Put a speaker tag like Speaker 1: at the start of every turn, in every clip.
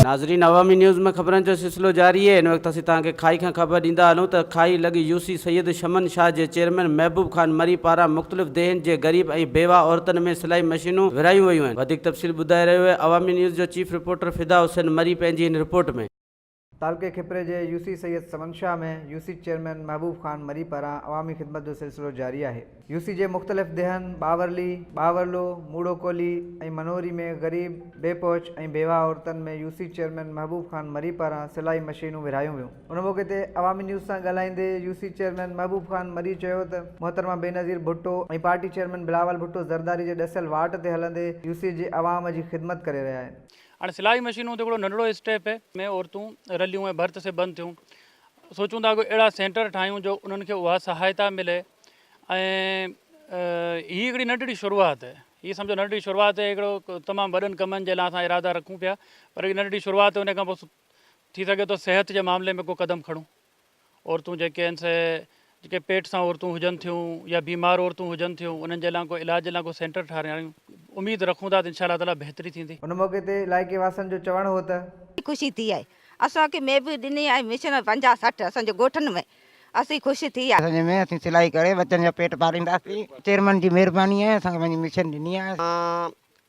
Speaker 1: ناظرين عوامي نيوز ۾ خبرن جو سلسلو جاري هي ان وقت اسين توهان کي کائي کان خبر ڏيندا هلون ته کائي لڳ يو سي سيد شمن شاهه جي چيئرمين محبوب خان مري پاران مختلف ديهين جي غريب ۽ بيواهه عورتن ۾ سلائي مشينون ورهايون ويون آهن وڌيڪ تفصيل ٻڌائي رهيو هي عوامي نيوز جو چيف رپورٽر فدا حسين مري پنهنجي هن رپورٽ ۾. تعلقي کپري
Speaker 2: جي U C Syed Saman Shah ۾ U C chairman Mehboob Khan Marri پاران عوامي خدمت جو سلسلو جاري آهي. يو سي جي مختلف ديهن ٻاورلي، ٻاورلو، موڙو ڪولهي ۽ منوري ۾ غريب، بي پهچ ۽ بيواهه عورتن ۾ U C chairman Mehboob Khan Marri پاران سلائي مشينون ورهايون ويون. ان موقعي تي عوامي نيوز سان ڳالهائيندي U C chairman Mehboob Khan Marri چيو ته محترمه بينظير ڀٽو ۽ پارٽي چيئرمين بلاول ڀٽو زرداري جي ڏسيل واٽ تي هلندي يو سي جي عوام جي خدمت ڪري رهيا آهن. هاڻي سلائي مشينون
Speaker 3: ته هڪڙو ننڍڙو اسٽيپ هي ۾ عورتون رليون ۽ ڀرت سبن ٿيون سوچون ٿا ڪو اهڙا سينٽر ٺاهيون جو انهن کي اها سهائتا ملي ۽ هي هڪڙي ننڍڙي شروعات هي هي سمجهو ننڍڙي شروعات هي هڪڙو تمام وڏن ڪمن جي لاء اسان ارادا رکون پيا پر هي ننڍڙي شروعات هي ان کان پوء ٿي سگهي ٿو صحت جي معاملي ۾ ڪو قدم کڻون. عورتون جيڪي آهن سي جيڪي پيٽ سان عورتون هجن ٿيون يا بيمار عورتون هجن ٿيون انهن جي لا ڪو علاج جي لا ڪو سينٽر ٺهرايون اميد رکون ٿا ته انشاء الله تعالٰي بهتري ٿيندي. ان موقعي تي علائقي
Speaker 2: واسن جو چوڻ هو ته. ڏاڍي خوشي ٿي آهي
Speaker 4: اسان کي ميب ڏني آهي مشن پنجاهه سٺ اسان جي ڳوٺن ۾ اسين خوش ٿي آهي. اسان ۾ اسين سلائي ڪري
Speaker 5: ٻچن جا پيٽ پالينداسين چيئرمين جي مهرباني آهي اسان کي پنهنجي مشن ڏني آهي.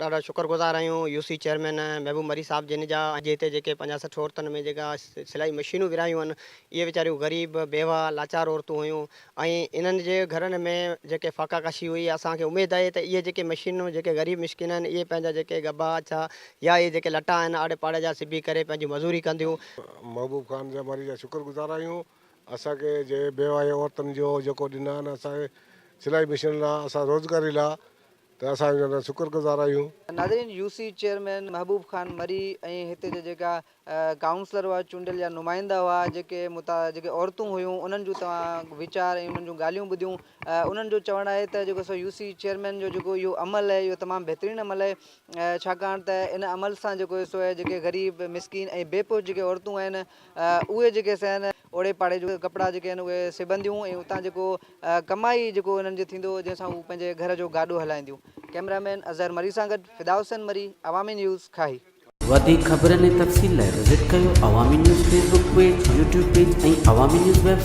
Speaker 5: ڏاڍا شڪر
Speaker 6: گذار آهيون U C chairman Mehboob Marri صاحب جن جا اڄ هتي جيڪي پنجاهه سٺ عورتن ۾ جيڪا سلائي مشينون ورهايون هن اهي ويچاريون غريب بيواه لاچار عورتون هيون ۽ انهن جي گهرن ۾ جيڪي فاقا ڪشي هئي اسان کي اميد آهي ته اهي جيڪي مشينون جيڪي غريب مسڪين آهن اهي پنهنجا جيڪي ڳڀا اڇا يا اهي جيڪي لٽا آهن آڙي پاڙي جا سبي ڪري پنهنجي مزوري ڪنديون. محبوب خان
Speaker 7: جا مري جا شڪر گذار آهيون اسان کي جي بيواهين عورتن جو جيڪو ڏنا آهن اسان کي سلائي مشينن لا اسان روزگاري لا ته اسان انهن جا شڪر گذار آهيون. ناظرين U C
Speaker 2: chairman Mehboob Khan Marri ۽ هتي جا جيڪا ڪائونسلر هئا چونڊيل يا نمائندا هئا جيڪي متا جيڪي عورتون هيون انهن جون توهان ويچار ۽ انهن جون ڳالهيون ٻڌيون انهن جو چوڻ آهي ته جيڪو سو يو سي چيئرمين جو جيڪو اهو عمل آهي اهو تمام بهترين عمل آهي ڇاڪاڻ ته ان عمل سان جيڪو سو جيڪي غريب مسڪين ۽ بي پهچ جيڪي عورتون آهن اهي جيڪي سين اوڙي پاڙي جون ڪپڙا جيڪي آهن اهي سبنديون ۽ اتان جيڪو ڪمائي جيڪو انهن جو ٿيندو هو جنهن سان هو پنهنجي گهر جو گاڏو هلائينديون ڪئميرا مين اظهر مري سان گڏ فدا حسين مري عوامي نيوز کاهي. وڌيڪ خبرن
Speaker 1: ۽ تفصيل لاء وزٽ ڪريو Awami news Facebook page, YouTube page ۽ Awami news web site.